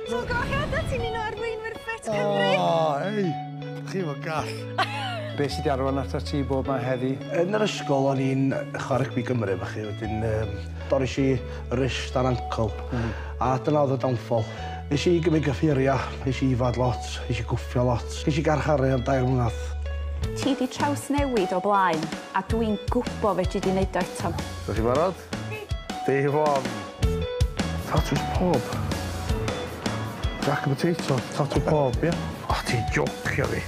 Ti'n gohead a ti'n un o arweinwyr Ffit Cymru? O, ei, chi fo gall. Be sydd wedi arwain at ti bob mae heddi? Yn yr ysgol o'n i'n chwarae rygbi Gymru efo chi, wedyn um, doris i wrist a'n ancl, mm. a dyna oedd y downfall. Nes i gymryd gyffuriau, nes i ifad lot, nes i gwffio lot, nes i garcharu am dair mlynedd. Ti di traws newid o blaen, a dwi'n gwybod fe ti di wneud o eto. Ydych chi'n barod? Day one. Tatws pawb. Jack and potato, tatws pawb, ie? O, ti'n jocio fi.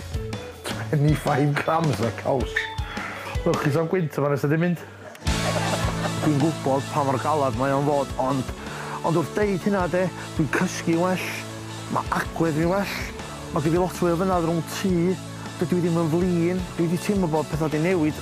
25 grams o caws. Lwcus am gwynt yma nes ydi mynd. Dwi'n gwybod pa mor galed mae o'n fod, ond, ond wrth deud hynna de, dwi'n cysgu'n well, mae agwedd fi'n well, mae gen fi lot fwy o fynedd rhwng T, dydw i ddim yn flin, dwi wedi teimlo bod pethau wedi newid.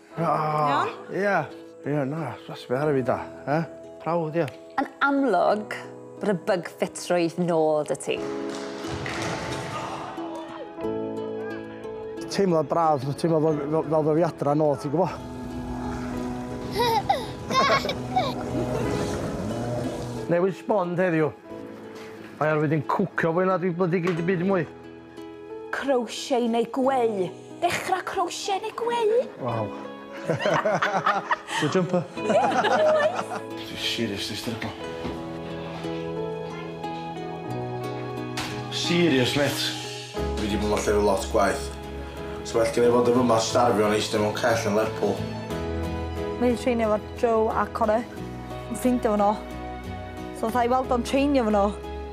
Iawn? Ia. Ia, na, ffres fi ar y fi da. Eh? Prawd, ia. Yn amlwg, bod y bug ffitrwydd nôl dy ti. Teimlad braf, teimlad fel, fel, fel fy fi adra nôl, ti'n gwybod? Newid sbon heddiw. Mae ar wedi'n cwcio fwy na dwi bloody gyd i byd mwy. Crochet neu gweu. Dechrau crochet neu gweu? Waw. Dwi'n jumper. Dwi'n seriously stryglo. Serious, mêt? Dwi wedi bod yn llefydd lot gwaeth. Sa well genna i fod yn fyma starfio'n eistedd mewn cell yn Lerpwl. Mae hi'n treinio efo Joe a Connor. Yn ffrindia fo nhw. So fatha i weld o'n treinio fo nhw.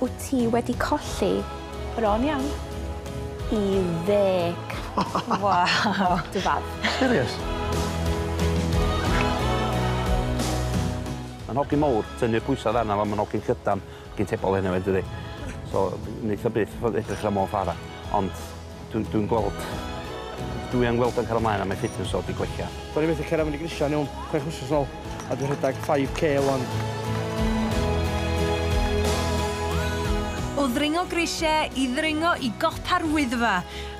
Wyt ti wedi colli? Bron iawn. I ddeg. Waw! Dy fab. Serious? Mae'n hogyn mowr, tynnu'r pwysa odd arna fo, mae'n hogyn llydan, hogyn tebol eniwe dydi? So, neith o byth fod edrych ar y Môn Fara, ond... Dw, dwi'n gweld... Dwi yn gweld o'n cario mlaen a mae fitness o 'di gwella. Do'n i methu cera fyny grisia yn iawn chwech wsos yn ôl a dwi rhedag 5k wan. O ddringo grisie i ddringo i gopa'r Wyddfa,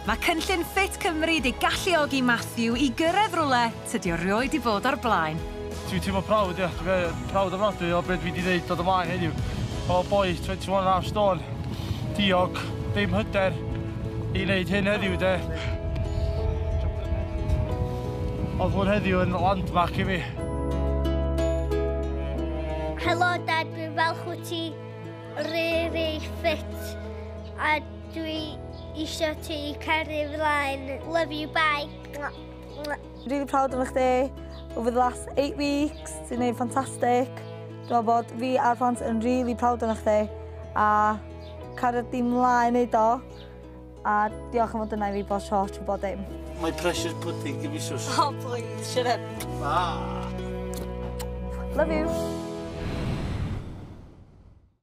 mae cynllun Fit Cymru 'di galluogi Matthew i gyrraedd rwle Tydi o rioed di bod o'r blaen. Dwi'n teimlo proud ia, dwi yy proud ofnadwy o be' dwi 'di neud dod ymlaen heddiw. O boi twenty one and half stone, diog, dim hyder i neud hyn heddiw de. Odd hwn heddiw yn landmark i fi. Helo Dad, dwi'n falch wt ti rili ffit a dwi isio ti i caru flaen. Love you bye. Really proud of chdi. Over the last eight weeks, ti'n neud ffantastig. Dwi'n meddwl bod fi a'r plant yn really proud of chdi. A cario di mlaen neud o. A diolch am fod yna i fi bod tro trwy bod dim. My precious pudding, give me sus. Oh, please, shut up. Ah. Love you.